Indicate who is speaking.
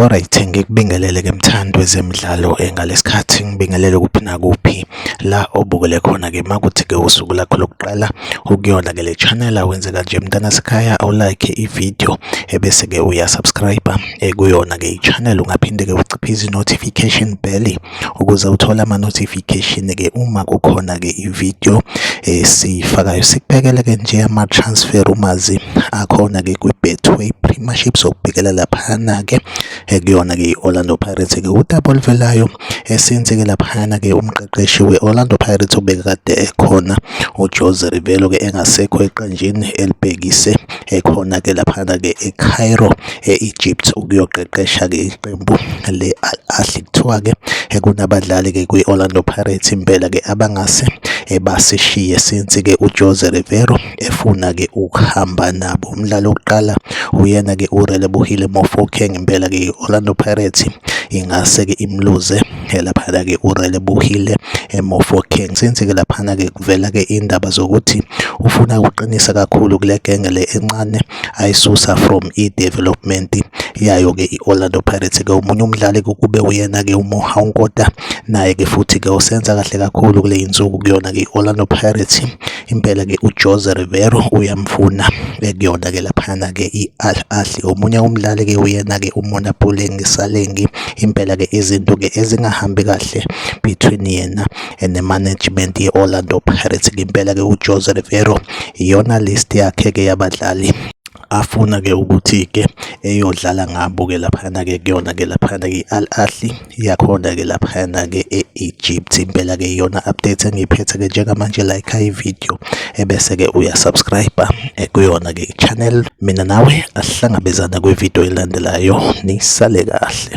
Speaker 1: Alright, ngikubingelele ke mthandi wezemidlalo eh, ngalesikhathi ngibingelele kuphi nakuphi la obukele khona ke makuthi ke usuku lakho lokuqala ukuyona ke le channel awenze kanje mntana sekhaya awulike ivideo ebese ke uyasubscribe eh, kuyona ke ichannel ungaphinde ke uciphe izi notification bell ukuze uthole ama-notification-ke uma kukhona-ke i-video esiyifakayo sikubhekele-ke nje ama-transfer rumours akhona-ke kwi-betway premiership sokubhekela laphana-ke ekuyona-ke i-orlando pirates-ke udaba oluvelayo esenzeke laphana-ke umqeqeshi we-orlando pirates obekade ekhona ujose rivelo-ke engasekho eqenjini elibhekise ekhona ke laphana ke eCairo eEgypt ukuyoqeqesha ke iqembu le Al Ahly kuthiwa ke kunabadlali ke kwi-Orlando Pirates impela ke abangase basishiye since ke uJose Rivero efuna ke ukuhamba nabo umdlalo wokuqala uyena ke uRelebohile Mofokeng impela ke i-Orlando Pirates ingase ke imluze laphana-ke urelebuhile emofokeng since-ke laphana-ke kuvela-ke iy'ndaba zokuthi ufuna ukuqinisa kakhulu kule genge le encane ayisusa from i-development yayo-ke i-orlando pirates-ke omunye umdlali kube uyena-ke umoha unkota naye-ke futhi-ke osenza kahle kakhulu kule yinsuku kuyona-ke i-orlando pirates Impela ke uJose Rivero uyamfuna kuyona ke laphana ke i-Al Ahly omunye umdlali ke uyena ke uMona Pulengi Salengi impela ke izinto ke ezingahambi kahle between yena and the management ye-Orlando Pirates impela ke uJose Rivero iyona list yakhe ke yabadlali afuna ke ukuthi ke eyodlala ngabo ke laphana ke kuyona ke laphana ke Al Ahly iyakhona ke laphana ke e-Egypt impela ke iyona update engiyiphethe ke njengamanje like i video ebese ke uya subscribe eh, kuyona ke channel mina nawe asihlangabezana kwi video elandelayo nisale kahle